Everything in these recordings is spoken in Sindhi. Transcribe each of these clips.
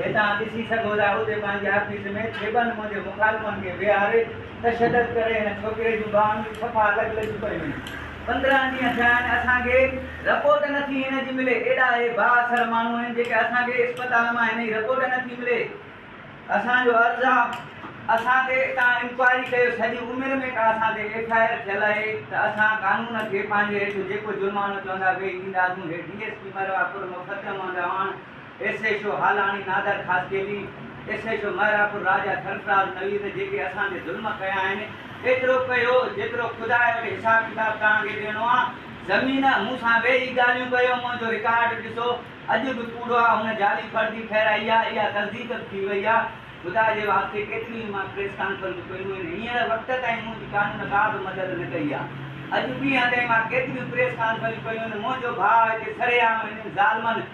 هتان ڏسي سگهو ٿا اتي پنهنجي آفيس ۾ ٿيٻن منهنجي مخالفن کي ويهاري تشدد ڪري هن ڇوڪري جون ٻانهن به صفا لڳ لڳيون پيون هيون. پندرهن ڏينهن ٿيا آهن اسان کي رپورٽ نه ٿي هن جي ملي ايڏا اهي با اثر ماڻهو آهن جيڪي اسان کي اسپتال مان هن جي رپورٽ نه ٿي ملي اسان جو عرض آ اسان تي تان انڪوائري ڪيو سڄي عمر ۾ ڪا اسان تي ايف آء آر ٿيل آهي ته اسان قانون کي پنهنجي هيٺ جيڪو جرمانو چوندا ويهي ڏينداسون هي ڊي ايس پي مروه پور مفتيحمحمد Awan S H O Halani Nadir Khaskheli, S H O Mehrabpur Raja Sarfaraz Naveed جيڪي اسان تي ظلم ڪيا آهن ايترو ڪيو جيترو خدا وٽ حساب ڪتاب توهان کي ڏيڻو آ زمين مون سان ويهي ڳالهيون ڪيو منهنجو رڪارڊ ڏسو اڄ به ڪوڙو آ هن جعلي فرضي ٺهرائي آ اها تصديق به ٿي وئي آ خدا جي واسطي ڪيتريون ئي مان پريس ڪانفرنسون ڪيون آهن هينئر وقت تائين منهنجي قانون ڪا به مدد نه ڪئي آ اڄ ڏينهن تائين مان ڪيتريون پريس ڪانفرنسون ڪيون آهن منهنجو ڀاء هتي سرعام هنن ظالمن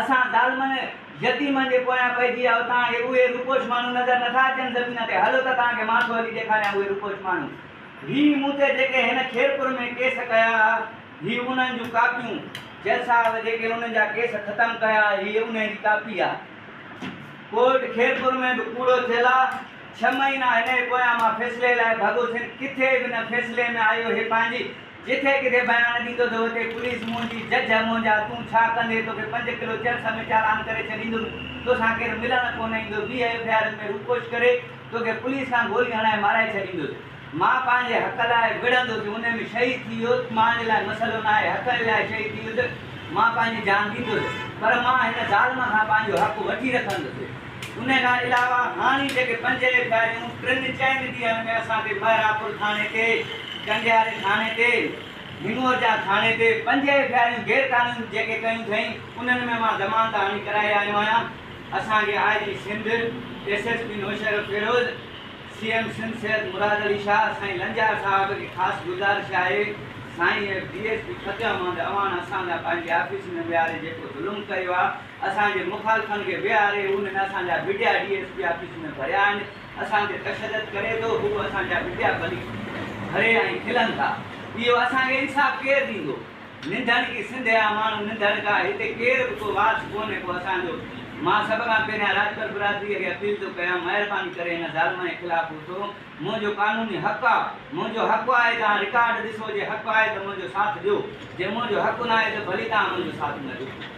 اسان ظالمن يتيمن جي پويان پئجي آيو توهان کي اهي روپوش ماڻهو نظر نٿا اچن زمين تي هلو ته توهان کي ماٿو هلي ڏيکاريان اهي روپوش ماڻهو هي مون تي جيڪي هن خيرپور ۾ ڪيس ڪيا هي انهن جون ڪاپيون جج صاحب جيڪي انهن جا ڪيس ختم ڪيا هي انهي جي ڪاپي آ ڪورٽ خيرپور ۾ به ڪوڙو ٿيل آ ڇهه مهينا هن جي پويان مان فيصلي لاء ڀڳو سين ڪٿي به نه فيصلي ۾ آيو هي پنهنجي جتي ڪٿي بيان ڏيندو ته اتي پوليس منهنجي جج منهنجا تون ڇا ڪندي توکي پنج ڪلو چرس ۾ چالان ڪري ڇڏيندم توسان ڪير ملڻ ڪونه ايندو ويهه ايف آء آرن ۾ روپوش ڪري توکي پوليس کان گولي هڻائي مارائي ڇڏيندس مان پنهنجي حق لاء وڙهندس ان ۾ شهيد ٿي ويو ته مانجي لاء مسئلو ناهي حق جي لاء شهيد ٿي ويو ته مان پنهنجي جان ڏيندس پر مان هن ظالم کان پنهنجو حق وٺي رکندس. ان کان علاوه هاڻي جيڪي پنجيهه گاڏيون ٽن چئن ڏينهن ۾ اسان کي مهراپور ٿاڻي تي، ڪنڊياري ٿاڻي تي، هنڱورجا ٿاڻي تي پنجيهه ايف آء آرون غير قانوني جيڪي ڪيون ٿئين انهن ۾ مان ضمانت هڻي ڪرائي آيو آهيان. اسان کي I G Sindh, S S P Naushahro Feroz, C M Sindh Syed Murad Ali Shah سائين لنجار صاحب کي خاص گذارش آهي سائين F D S P Fateh Muhammad Awan اسان جا پنهنجي آفيس ۾ ويهاري جيڪو ظلم ڪيو آهي اسان جي مخالفن کي ويهاري هن اسان جا media D S P office ۾ ڀريا آهن، اسان تي تشدد ڪري ٿو، هو اسان جا ميڊيا ڀلي ڀري ۽ کلن ٿا، اهو اسان کي انصاف ڪير ڏيندو؟ ننڌڻ ڪي سنڌ جا ماڻهو ننڌڻ ڪا، هتي ڪير به ڪو وارث ڪونهي ڪو اسان جو، مان سڀ کان پهريان راڄپر برادري اڳيان اپيل ٿو ڪيان مهرباني ڪري هن ظالمن جي خلاف اٿو، منهنجو قانوني حق آ، منهنجو حق آهي توهان رڪارڊ ڏسو جي حق آهي ته منهنجو ساٿ ڏيو، جي منهنجو حق ناهي ته ڀلي توهان منهنجو ساٿ نه ڏيو.